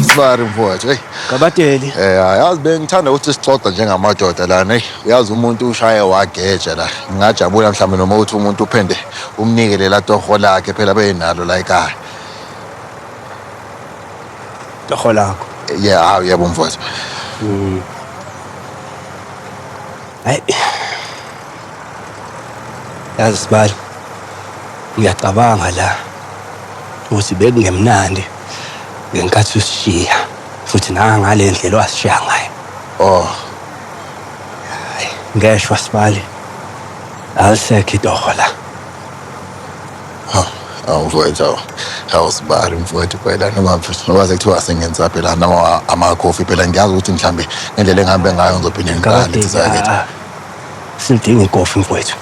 Sorry mfowethu. Hey. Gabateli. Eh yazi bengithanda ukuthi sixoxe njengamadoda lana. Hey, uyazi umuntu ushaye wageja la. Ngingajabula mhlawumbe noma uthi umuntu uphende umnike lela toho lakhe phela benalo la ekhaya. Toho lakho. Yeah, hawu yebo mfowethu. Mm. Hayi. Yazi sibali. Uyacabanga la. Uthi bekungemnandi. ngenkathi usishiya futhi nangale ndlela owasishiya ngayo oh hayi ngeshwa sibali alisekho itoho la awu mfowethu awu awu sibali mfowethu phela noma noma sekuthiwa sengenza phela noma amakhofi phela ngiyazi ukuthi mhlambe ngendlela engihambe ngayo ngizophinde ngiqale Ngakade, sizakethi ah, silidinga ikofi mfowethu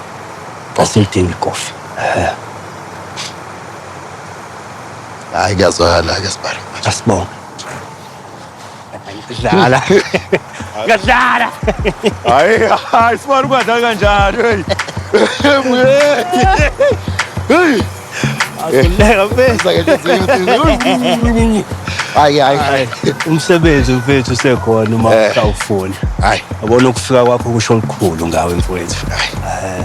asilidinga ikofi Eh, Hayi kuyazwakala ke sibara. Asibonge. Dlala. Ngadlala. Hayi hayi sibara ukwadlala kanjani hey. Hey. Akuleka mfethu. Hayi hayi hayi. Umsebenzi mfethu usekhona uma Eh. usawufuna. Hayi. Yabona ukufika kwakho kusho olukhulu ngawe mfowethu. Hayi.